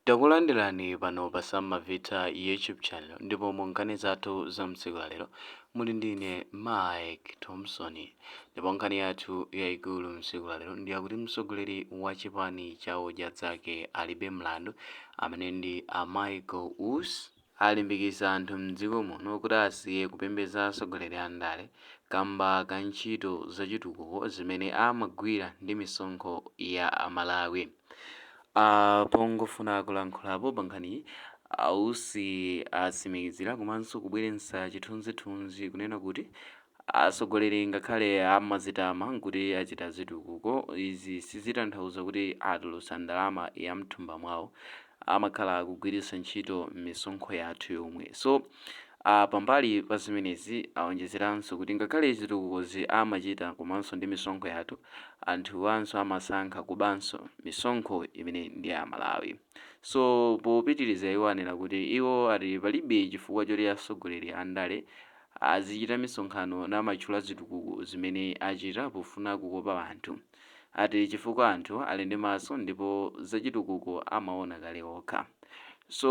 Takulandirani pano pa Sam Mavitha YouTube channel ndipo mu nkhani zathu za mtsiku la lero muli ndi ine Mike Thompson ndipo nkhani yathu yayikulu mtsiku la lero ndi yakuti mtsogoleri wa chipani cha Odya Dzake Alibe Mlandu amene ndi a Michael Usi alimbikitsa anthu m'dziko muno kuti asiye kupembedza atsogoleri a ndale kamba ka ntchito za chitukuko zimene amagwira ndi misonkho ya a Malawi. Pongofuna kulankhulapo pa nkhaniyi, a Usi atsimikizira komanso kubweretsa chithunzithunzi kunena kuti Atsogoleri ngakhale amazitama kuti achita zitukuko, izi sizitanthauza kuti atulutsa ndalama yamthumba mwawo. Amakhala akugwiritsa ntchito misonkho yathu yomwe. So pambali pa zimenezi aonjezeranso kuti ngakhale zitukukozi amachita komanso ndi misonkho yathu, anthuwanso amasankha kubanso misonkho imene ndi ya Amalawi. So popitiriza iwo anena kuti iwo ati palibe chifukwa choti atsogoleri andale Azichita misonkhano n'kumatchula zitukuko zimene achita pofuna kukopa anthu ati chifukwa anthu ali ndi maso ndipo zachitukuko amaona kale okha so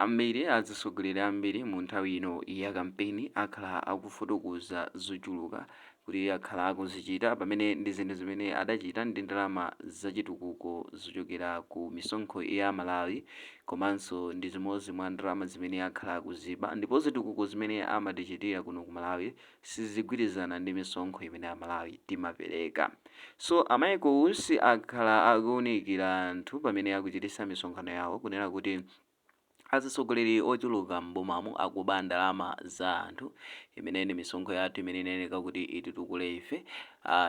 ambiri atsogoleri ambiri mu nthawi ino ya kampeni akhala akufotokoza zochuluka kuti akhala akuzichita pamene ndi zinthu zimene adachita ndi ndalama zachitukuko zochokera ku misonkho ya Amalawi komanso ndi zimodzi mwa ndalama zimene akhala akuziba ndipo zitukuko zimene amatichitira kuno ku Malawi sizigwirizana ndi misonkho imene Amalawi timapereka so aMichael Usi akhala akuunikira anthu pamene akuchititsa misonkhano yawo kunena kuti Azitsogoleri ochuluka m'bomamu akuba ndalama za anthu imene ndi misonkho yathu imene inayeneka kuti ititukule ife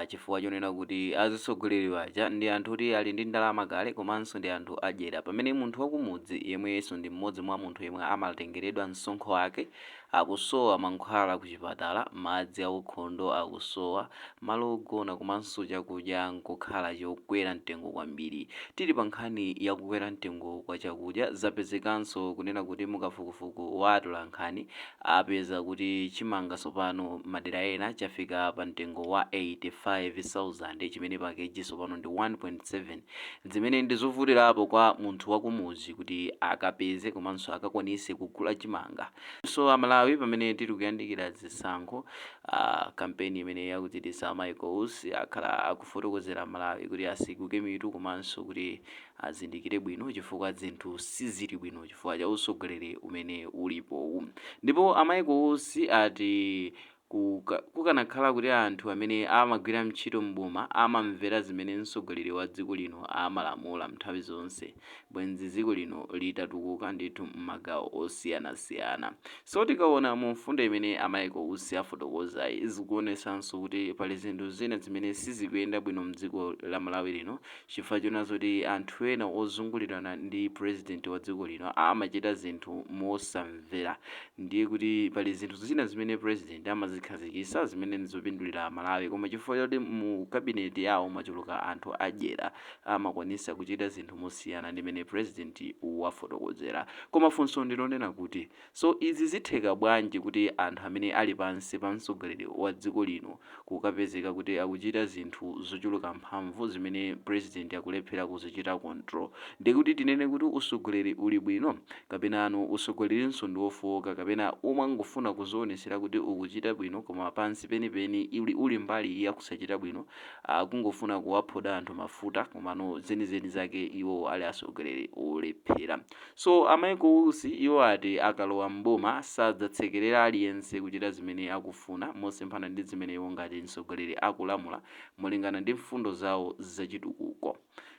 chifukwa chonena kuti azitsogoleri aja ndi anthu oti ali ndi ndalama kale komanso ndi anthu adyera pamene munthu wakumudzi yemwenso ndi m'modzi mwa munthu yemwe amatengeredwa msonkho wake Akusowa mankhwala kuchipatala, madzi aukhondo akusowa, malo ogona komanso chakudya n'kukhala chokwera mtengo kwambiri. Tili pa nkhani ya kukwera mtengo kwa chakudya, zapezekanso kunena kuti mu kafukufuku wa atolankhani apeza kuti chimanga tsopano m'madera ena chafika pa mtengo wa 85,000 chimene pa kg tsopano ndi 1.7 zimene ndi zovutirapo kwa munthu wakumudzi kuti akapeze komanso akakwanise kugula chimanga. So a Malawi pamene tili kuyandikira zisankho a kampeni imene akuchititsa a Michael Usi akhala akufotokozera a Malawi kuti atseguke mitu komanso kuti azindikire bwino chifukwa zinthu sizili bwino chifukwa cha utsogoleri umene ulipowu. Ndipo a Michael Usi ati Ku, ka, kukanakhala kuti anthu amene amagwira ntchito m'boma amamvera zimene mtsogoleri wa dziko lino amalamula nthawi zonse bwenzi dziko lino litatukuka ndithu mmagawo osiyanasiyana. So tikaona mu mfundo imene a Michael Usi afotokozayi zikuonetsanso kuti pali zinthu zina zimene sizikuyenda bwino mdziko la Malawi lino chifukwa chonena zoti anthu ena ozungulirana ndi president wa dziko lino amachita zinthu mosamvera Ndiye kuti pali zinthu zina zimene president amazikhazikisa zimene ndizopindulira a Malawi koma chifukwa choti mu cabinet yawo mwachuluka anthu adyera amakwanisa kuchita zinthu mosiyana ndi mene president wafotokozera. Koma funso ndilonena kuti so izi zitheka bwanji kuti anthu amene ali pansi pa mtsogoleri wa dziko lino kukapezeka kuti akuchita zinthu zochuluka mphamvu zimene president akulephera kuzichita control ndiye kuti tinene kuti usogoleri uli bwino? kapenano usogolerinso ndi wofooka kapena umangofuna kuzionesera kuti ukuchita bwino koma pansi penipeni iwe uli mbali ya kusachita bwino akungofuna kuwaphoda anthu mafuta komano zenizeni zake iwo ali asogoleri olephera. So a Michael Usi iwo ati akalowa m'boma sadzasekelera aliyense kuchita zimene akufuna mosemphana ndi zimene iwo ngati mtsogoleri akulamula molingana ndi mfundo zawo zachitukuko.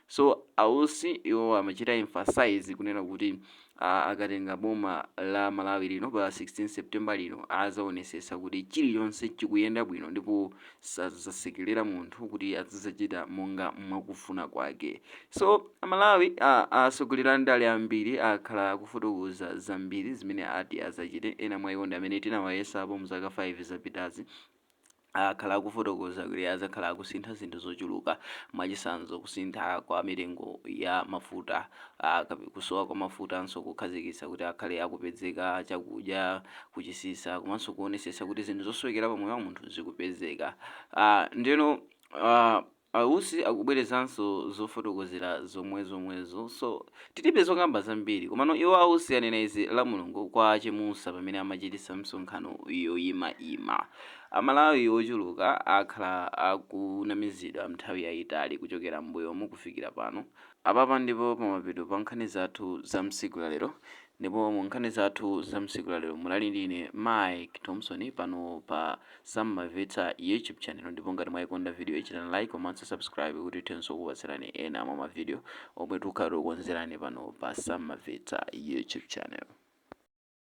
So a Usi iwo amachita emphasize kunena kuti a akatenga boma la Malawi lino pa 16 September lino azaonesetsa kuti chilichonse chikuyenda bwino ndipo sadzasekelera munthu kuti azidzachita monga mwakufuna kwake so amalawi a asogoleri andale ambiri akhala akufotokoza zambiri zimene ati azachite ena mwa iwo ndi amene tinawayesapo mu zaka 5 zapitazi akhala akufotokoza kuti adzakhala akusintha zinthu zochuluka mwachisanzo kusintha kwa mitengo ya mafuta a kusowa kwa mafutanso kukhazikitsa kuti akhale akupezeka a chakudya kutchipitsa komanso kuonesesa kuti zinthu zosowekera pa moyo wa munthu zikupezeka a ndeno a a usi akubwerezanso zofotokozera zomwe zomwezo so tilibe zokamba zambiri komano iwo a usi anena izi la mulungu kwa Chemusa pamene amachitisa msonkhano yoyima ima a malawi ochuluka akhala akunamizidwa nthawi yayitali kuchokera mbuyomu kufikira pano Apapa ndipo pamapeto pa nkhani zathu za msiku la lero ndipo mu nkhani zathu za msiku la lero munali ndi ine Mike Thomson pano pa Sammavetsa YouTube channel ndipo ngati mwaikonda video ichitani like komanso subscribe kuti tithenso kukupatsirani ena mwa ma video omwe tikhala tikukonzerani pano pa Sammavetsa YouTube channel.